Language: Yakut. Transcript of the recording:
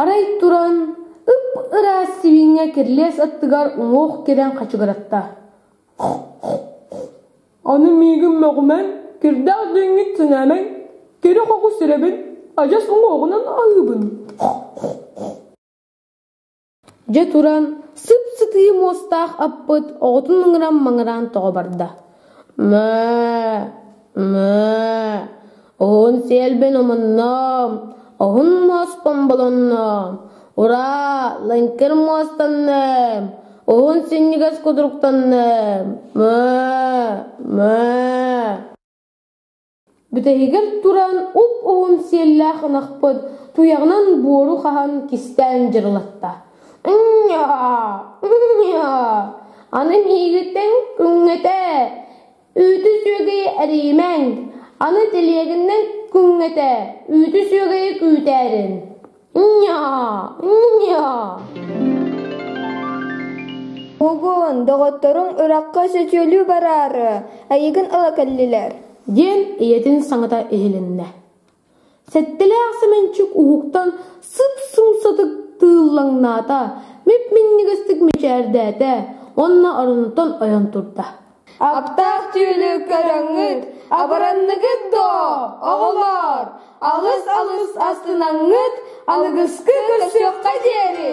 Арай туран, ып-ыраас сибиинньэ кирилиэс аттыгар уҥуох кэлэн хачыгыратта: «Аны миигин мөҕүмэҥ, кирдээх диэҥҥит сэнээмэҥ, кири-хоҕус ирэбин, адьас уҥуоҕунан аһыыбын» Дьэ туран, сып-сытыы муостаах аппыт оҕотун мыҥыран-маҥыраан тоҕо барда: «Мөө!» Уһун сиэлбин умунноом, оһун муоспун булунноом, ураа, лыҥкыр муостанныам, уһун синньигэс кудуруктанныам, Бүтэһигэр туран уп-уһун сиэллээх ынахпыт туйаҕынан буору хаһан кистээн дьырылатта. Ынньаа! Ынньаа! Аны миигиттэн күҥҥэтэ Үүтү сүөгэйи эрийимэҥ, аны тэлиэгиннэн күҥҥэтэ үүтү сүөгэйи күүтээрин. Nya-а, nya-а. Огон, доҕотторуҥ ыраахха сөтүөлүү бараары, эйигин ыла кэллилэр. диэн ийэтин саҥата иһилиннэ Сэттэлээх Сэмэнчик уһуктан сып-сымсатык тыыллаҥнаата, мип-минньигэстик мичээрдээтэ уонна оронуттан ойон турда: «Аптаах түүлү көрөҥҥүт, абыранныгыт дуо, оҕолоор? Алыс-алыс астынаҥҥыт, аныгыскы көрсүөххэ диэри!»